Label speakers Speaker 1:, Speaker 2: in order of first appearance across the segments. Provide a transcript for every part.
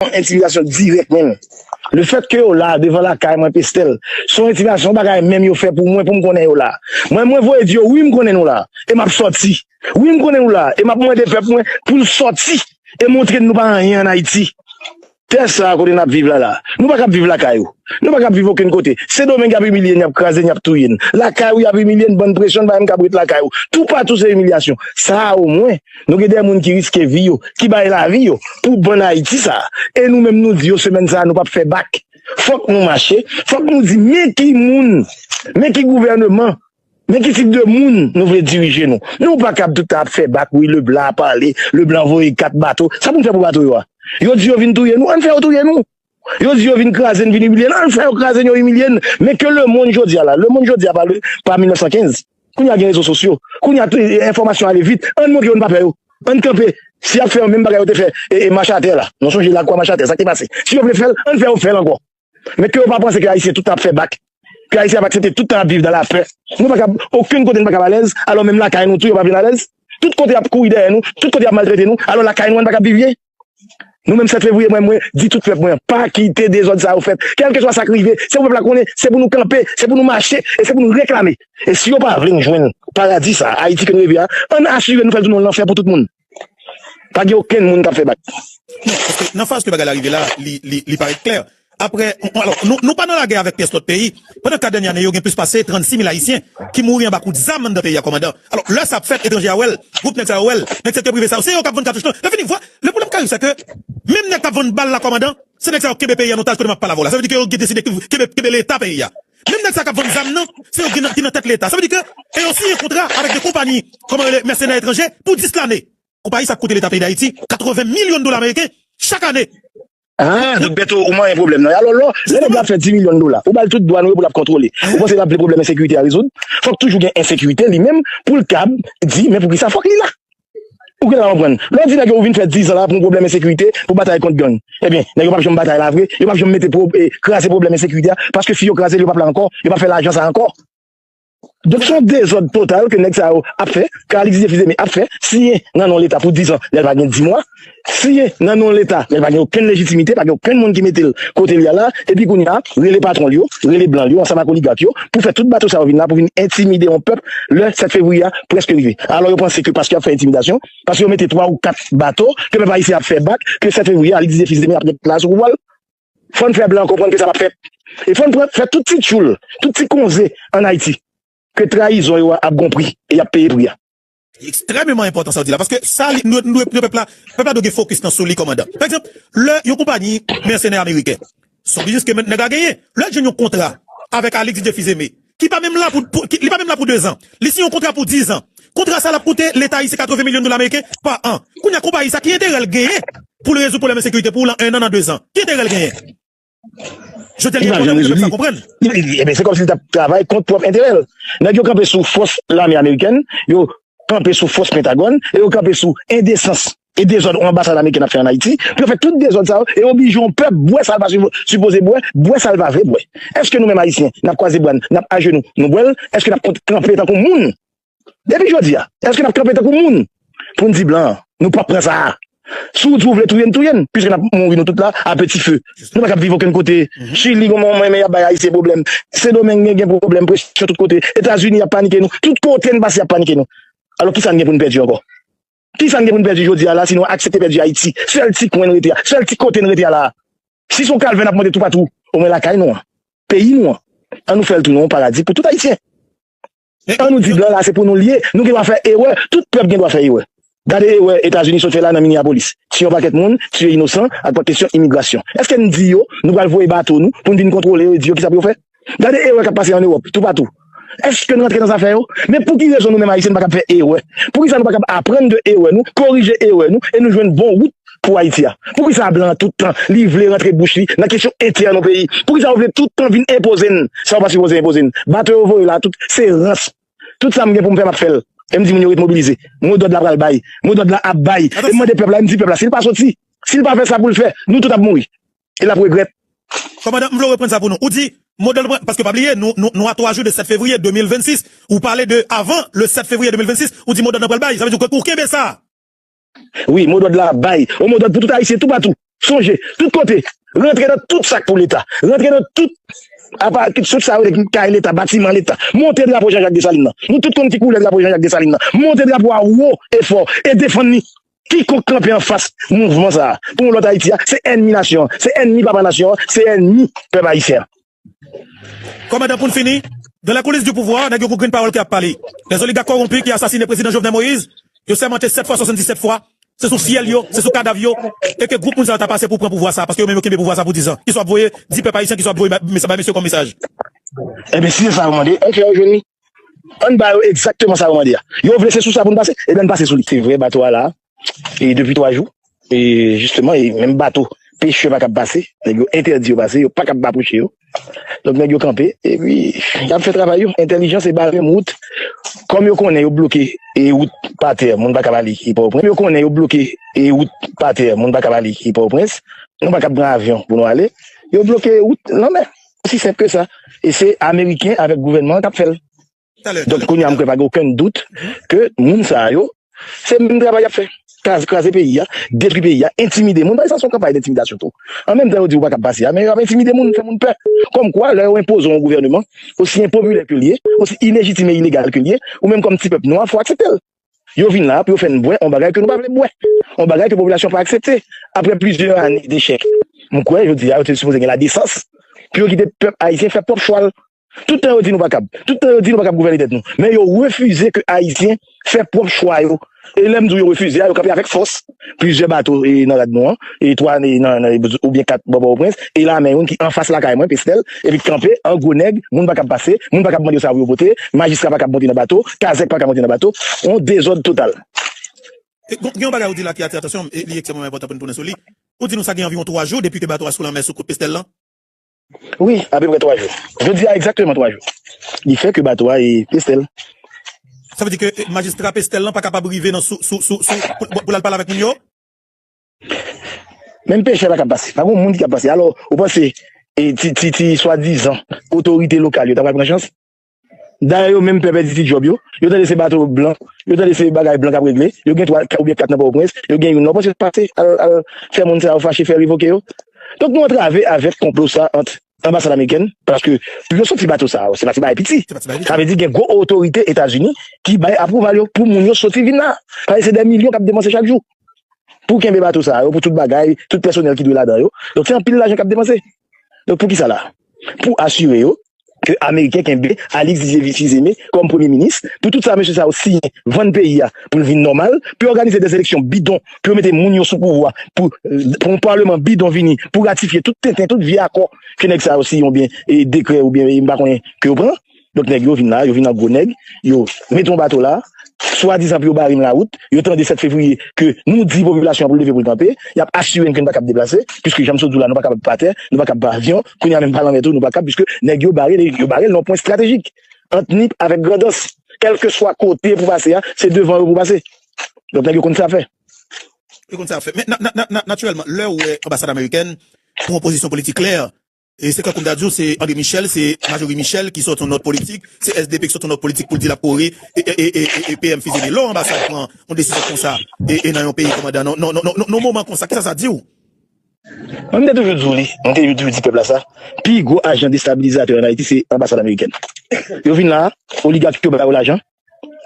Speaker 1: yon entimidasyon dirèk menm le fèt ke yo la devan lakay mwen Pestel son entimidasyon son bagay menm yo fè pou mwen poum konnen yo la mwen mwen voye di yo wi m konnen nou la e map sòti wi m konnen nou la e map mande pèp mwen poul sòti e montre nou pa anyen an Ayiti tè sa kote nap viv la la nou pa kab viv lakay ou nou pa kab viv okenn kote sendomeng yap imilye n yap kraze n yap touye n lakay ou yap imilye n bann presyon n pa menm kab ret lakay ou toupatou se imilyasyon sa omwen Nou gen de moun ki riske vi yo, ki bay lavi yo pou bann Ayiti sa a. E nou menm nou di yo semèn sa a nou pap fè bak. Fòk nou mache, fòk nou di men ki moun, men ki gouvèneman, men ki tip de moun nou vle dirije nou. Nou pa kab tout tan ap fè bak wi Leblan a pale, Leblan voye 4 bato. Sa pou n fè pou bato yo a? Yo di yo vin touye nou, an n fè yo touye nou. Yo di yo vin kraze n, vin imilye n, al fè yo kraze n, yo imilye n, men ke lemonn jodi a la, lemonn jodi a pa 1915, kounye a gen rezo sosyo, kounye a enfòmasyon ale vit, ann montre yo n pa pè yo, ann kanpe, si y ap fè yo menm bagay yo te fè Machatè la, nou sonje Lakwa Machatè sa k te pase, si yo vle fè l, ann fè yo fè l ankò, men ke yo pa panse ke Ayisyen tout tan ap fè bak, ke Ayisyen ap aksepte tout tan ap viv dan la pè, nou pa kab, okenn kote n pa kab alèz, alò menm lakay nou tou yo pa vin alèz, tout kote y ap kouri dèyè nou, tout kote y ap maltrete nou, alò lakay nou a n pa kab viv byen? Nou menm 7 fevriye mwen mwen di tout pèp mwen pa kite dezòd sa yo fèt kèlkeswa sak rive se pou pèp la konnen se pou nou kanpe se pou nou mache e se pou nou reklame e si yo pa vle nou jwenn paradi sa ayiti ke nou reve a ann asire nou fèl tounen yon lanfè pou tout moun pa gen okenn moun kap fè bak.
Speaker 2: Nan faz ke bagay la rive la li parèt klè Aprè, alò, nou pa nan lagè avèk pyès lòt peyi. Pandan 4 dènye ane yo, gen plis pase 36 mil Ayisyen ki mouri anba kout zam anndan peyi a, kòmandan. Alò, lè sa ap fèt, etranje a wè l, gwoup nèg sa yo wè l, nèg sektè prive sa yo, se yo k ap vann katouch lan. Lè fini, vwa, le pwoblèm k arive, sèke menm nèg k ap vann bal la, kòmandan, se nèg sa yo k kenbe peyi a an otaj kote m ap pale avè w la. Sa vle di ke yo gen deside kenbe, kenbe Leta peyi a. Menm nèg sa yo k ap vann zam nan, se yo ki nan tèt Leta. Sa vle di ke, e yo siyen kontra avèk 2 konpayi, kòman rele, mèsenè etranje pou 10 lane. Konpayi sa ap koute Leta peyi Dayiti 80 milyon dola ameriken chak ane. Haa Doc
Speaker 1: Bertho ou manyen pwoblèm nan Alò lò lè nèg la ap fè 10 milyon dola ou bal tout dwa nou yo pou lap kontwole ou panse lap vle pwoblèm ensekirite a rezoud fòk toujou gen ensekirite li menm poul kab di men poukisa fòk li la ou gentan konprann lè w di nèg yo ou vin fè 10 an la pou yon pwoblèm ensekirite pou batay kont gang ebyen nèg yo pap janm batay la vre yo pap janm mete kraze pwoblèm ensekirite a paske si yo kraze l yo pap la ankò yo pap fè lajan sa ankò. Donk se yon dezòd total ke nèg sa yo ap fè, ke Alix Dieu-Fils-Aimé ap fè, siye nan non leta pou dizan lè l pa gen dimwa, siye nan non leta lè l pa gen okenn lejitimite, pa gen okenn moun ki mete l kote l ye a la, epi kounye a rele patwon l yo, rele blan l yo ansanm ak oligak yo pou fè tout bato sa yo vin la pou vin entimide yon pèp lè 7 fevriye a prèske rive. Alò yo panse ke paske y ap fè entimidasyon, paske yo mete 3 ou 4 bato, ke pèp ayisyen ap fè bak, ke 7 fevriye a Alix Dieu-Fils-Aimé ap ret la sou pouvwa l? Fò n fè blan konprann ke sa pap fèt. E fò n pran fè tout ti tchoul, tout ti konze an Ayiti ke trayizon yo a ap gon pri e y ap peye pri a. Li ekstrèmeman
Speaker 2: enpòtan sa w di la paske sa li nou dwe pran pèp la, pèp la dwe gen fokis nan sou li kòmandan. Pa egzanp, lè yon konpayi mèsenè ameriken, s on biznis ke nèg la genyen, lè l jwenn yon kontra avèk Alix Didier Fils Aimé, ki pa menm la pou li pa menm la pou 2 zan. Li siyen yon kontra pou 10 zan. Kontra sa l ap koute leta ayisyen 80 milyon dola meriken pa an. Kounye a konpayi sa ki enterè l genyen pou l rezoud pwoblèm ensekirite pou w lan 1 an nan 2 zan? Ki enterè l genyen? Jodi a li gen pwoblèm pou pèp la konprann. Ebyen se kòmsi li t
Speaker 1: ap travay kont pwòp enterè l. Nèg yo kanpe sou fòs lame amerikèn, yo kanpe sou fòs pentagòn e yo kanpe sou endesans E dezòd on anbasad amerikèn ap fè an Ayiti pou yo fè tout dezòd sa yo e oblije on pèp bwè sa l pa sipoze bwè, bwè sa l pa vle bwè. Èske nou menm Ayisyen n ap kwaze bra n, n ap ajenou nou bwè l? Èske n ap kont kanpe tankou moun? Depi jodi a, èske n ap kanpe tankou moun pou n di blan an, nou p ap pran sa a? Si w di w vle touye n, touye n, piske n ap mouri nou tout la a peti fe. Nou pa kab viv okenn kote. Chili gen moun men y ap bay Ayisyen pwoblèm. Sendomeng gen pwoblèm, presyon tout kote. Etazini y ap panike nou. Tout kote n pase y ap panike nou. Alò kisa n gen pou n pèdi ankò? Kisa n gen pou n pèdi jodi a la sinon aksepte pèdi Ayiti, sèl ti kwen n rete a, sèl ti kote n rete a la a? Si se yon kalvè n ap mande toupatou, omwen lakay nou an, peyi nou an, an nou fè l tounen yon paradi pou tout Ayisyen. An nou di blan la se pou nou l ye, nou gen dwa fè erè, tout pèp gen dwa fè erè. Gade erè Etazini sot fè la nan Minneapolis, tiye yon pakèt moun, tiye inosan ak kesyon imigrasyon. Èske n di yo nou pral voye bato nou pou n vin kontwole yo e di yo kisa pou yo fè? Gade erè kap pase an Ewòp, tou patou. Eske n rantre nan zafè yo? Men pou ki rezon nou menm Ayisyen n pa kab fè erè? Pou ki sa nou pa kab aprann de erè nou, korije erè nou e nou jwenn bon wout pou Ayiti a? Pou ki sa blan an tout tan li vle rantre bouch li nan kesyon entèn yon peyi? Pou ki sa yo vle tout tan vin enpoze n sa yo pa sipoze enpoze n? Bato yo voye la a tout se rans. Tout sa m gen pou m fè m ap fè l e m di moun yo ret mobilize. Mo dòd la pral bay. Mo dòd la ap bay. E m mande pèp la e m di pèp la si l pa soti, si l pa fè sa pou l fè, nou tout ap mouri. E lap regrèt. Kòmandan m vle w
Speaker 2: reprann sa pou nou. Ou di modèl pran paske pa bliye nou a 3 jou de 7 fevriye 2026 ou pale de avan le 7 fevriye 2026 ou di modòd lan pral bay sa vle di ou
Speaker 1: kenbe sa.
Speaker 2: Wi modòd
Speaker 1: la ap bay
Speaker 2: yon
Speaker 1: modòd pou
Speaker 2: tout
Speaker 1: ayisyen toupatou sonje tout kote rantre nan tout sak pou leta rantre nan tout apa tout sa yo kay leta batiman leta monte drapo Jean Jacques Dessalines lan nou tout konn ki koulè drapo Jean Jacques Dessalines lan monte drapo a wo e fò e defann li Kikonk kanpe anfas mouvman sa a pou yon lòt Ayiti a, se ènmi nasyon an, se ènmi papa nasyon an, se ènmi pèp ayisyen an.
Speaker 2: Kòmandan Pou n fini, Dans les coulisses du pouvoir, nèg yo gou grin pawòl ki ap pale. Les oligarques corrompus ki asasine Prezidan Jovenel Moïse, yo sèmante 7 fwa 77 fwa, se sou fyèl yo, se sou kadav yo, e ke gwoup moun sa yo ta pase pou pran pouvwa sa a, paske yo menm yo kenbe pouvwa sa a pou 10 zan, ki sou ap voye di pèp ayisyen, ki sou ap voye bay mesye yo kòm mesaj. Enbesile
Speaker 1: sa yo mande, an fè yo jwenn li? Ann ba yo egzakteman sa yo mande a. Yo vle se sou sa pou n pase, ebyen ann pase sou li. Se vre bato a la a depi 3 jou, e jisteman e menm bato pechè pa kab pase, nèg yo entèdi yo pase, yo pa kab apwoche yo. Donk nèg yo kanpe, epi y ap fè travay yo, entèlijan se bare menm wout, kòm yo konnen yo bloke e wout pa tè, moun pa kab ale e Pòtoprens, yo konnen yo bloke e wout pa tè, moun pa kab ale e Pòtoprens, nou pa kab pran avyon pou nou ale, yo bloke wout lanmè. Osi senp ke sa. E se ameriken avèk gouvènman an k ap fè l. Donk kounye a m kwè pa gen okenn dout ke moun sa yo se menm travay y ap fè. Kraze peyi a, detwi peyi a, entimide moun. Paske sa se yon kanpay dentimidasyon tou. An menm tan yo di ou pa kab pase a, men yo ap entimide moun, fè moun pè. Kòm kwa lè yo enpoze w yon gouvèneman, osi enpopilè ke l ye, osi ilejitim e ilegal ke l ye, ou menm kòm ti pèp nwa fò w aksepte l. Yo vin la pou yo fè n bwè yon bagay ke nou pa vle bwè, yon bagay ke popilasyon pa aksepte. Aprè plizyè ane dechèk, m kwè jodi a yo te sipoze gen ladesans pou yo kite pèp ayisyen fè pwòp chwa l. Tout tan yo di nou pa kab, tout tan yo di nou pa kab gouvène tèt nou, men yo refize ke ayisyen fè pwòp chwa yo. E lè m di w yo refize a, yo kanpe avèk fòs. Plizyè bato nan rad nou an, 3 nan oubyen 4 bò Pòtoprens, e lame youn ki anfas lakay mwen, Pesnèl, epi ki kanpe an gwo nèg, moun pa kab pase, moun pa kab mande yo sa pou yo pote, majistra pa kab monte nan bato, kazèk pa ka monte nan bato, yon dezòd total.
Speaker 2: Gen yon bagay ou di la ki atire atansyon m, e li ekstrèmman enpòtan pou n tounen sou li. Ou di nou sa gen anviwon 3 jou depi ke bato a sou lanmè sou kout Pesnèl lan. Wi,
Speaker 1: apeprè 3 jou. Jodi a egzakteman 3 jou. Li fè ke bato a e Pestel. Sa vle
Speaker 2: di ke majistra Pestel lan pa kapab rive nan sou sou sou sou pou lal pale avèk moun yo?
Speaker 1: Menm pechè pa kab pase. Pa gon moun ki kab pase. Alò, ou panse e ti ti ti swadizan otorite lokal yo ta pral pran chans? Dayè yo menm pè pèdi ti djòb yo, yo tande se bato blan, yo tande se bagay blan k ap regle, yo gen 3 oubyen 4 nan Pòtoprens, yo gen youn la, ou panse yo t pase al fè moun sa yo fache fè revoke yo? Donk nou antrave avèk konplo sa ant Anbasad amerikèn, paske pou yo soti bato sa yo se pa ti bagay piti, sa vle di gen gwo otorite Etazini ki bay apwouval yo pou moun yo soti vin la, paske se dè milyon k ap depanse chak jou pou kenbe bato sa yo, pou tout bagay, tout pèsonèl ki dwe ladan yo, donk se anpil lajan k ap depanse. Donk pou kisa la? Pou asire yo ke ameriken kenbe Alix Didier Fils-Aimé kòm premye minis, pou tout sa mesye sa yo siyen vann peyi a pou l vin nòmal, pou yo òganize de eleksyon bidon, pou yo mete moun yo sou pouvwa, pou yon paleman bidon vini pou ratifye tout tenten, tout vye akò ke nèg sa yo siyen oubyen dekrè oubyen m pa konnen ke yo pran. Lòt nèg yo vin la, yo vin an gwo nèg, yo mete yon bato la, swadizan pou yo bare n lawout, yo tande 7 fevriye ke nou di popilasyon an pou l leve pou l kanpe, y ap asire n ke n pa kab deplase, piske jan m sot di w la nou pa kapab pa tè, nou pa kab pa avyon, kounye a menm pa lanmè tou nou pa kab piske nèg yo bare n, yo bare n nan yon pwen estratejik ant Nip avèk Grandans, kèlkeswa kote pou pase a, se devan yo pou pase. Lòt nèg yo konn sa fè. Yo konn sa
Speaker 2: fè. Men, natirèlman, lè ou wè anbasad amerikèn, pran yon pozisyon politik klè, Se tankou m ta di w se André Michel, se Majorie Michel ki sòti yon nòt politik, se sdp ki sòti yon nòt politik pou l di l ap kore PM Fizeme. Lè yon anbasad pran yon desizyon konsa nan yon peyi kòmandan nan yon moman konsa, kisa sa di w? Mwen
Speaker 1: m te toujou di w li, mwen te toujou di pèp la sa, pi gwo ajan destabilizatè an Ayiti se anbasad amerikèn. Yo vin la a, oligak yo ba yo lajan,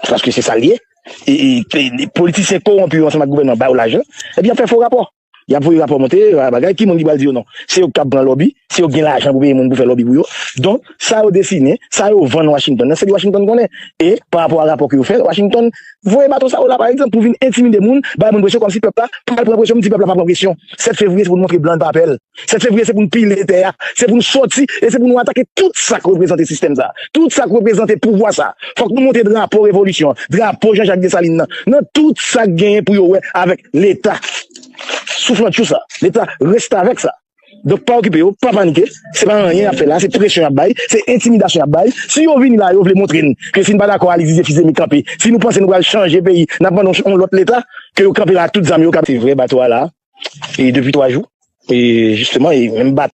Speaker 1: paske se sa l ye, politisyen kowonpi yo ansanm ak gouvènman ba yo lajan, epi y ap fè fo rapò. Yap voye rapò monte yo a bagay, ki moun ki pral di yo non? Se yo ki kab pran lòbi, se yo ki gen lajan pou peye moun pou fè lòbi pou yo. Donk, sa yo desinen, sa yo vann Washington nan, se li Washington konnen. E, parapò a rapò ke yo fè, Washington voye baton sa yo la, parekzanp, pou vin entimide moun, bay moun presyon kòmsi pèp la pral pran presyon, m di pèp la pa pran presyon. 7 fevriye se pou n montre blan n pa pè l. 7 fevriye se pou nou pile tè a, se pou nou sòti e se pou nou atake tout sa k reprezante sistèm sa, tout sa k reprezante pouvwa sa. Fòk nou monte drapo revolisyon an, drapo Jean Jacques Dessalines nan, nan tout sa k genyen pou yo wè avèk leta souflantchou sa, leta restavèk sa. Donk pa okipe yo, pa panike, se pa anyen y ap fè la, se presyon y ap bay, se entimidasyon y ap bay. Si yo vini la yo vle montre n ke si n pa dakò Alix Didier Fils-Aimé kanpe, si nou panse nou pral chanje peyi n ap mande yon lòt leta. Ke yo kanpe la ak tout zam yo kap. Se vre bato a la depi 3 jou e jisteman e menm bat.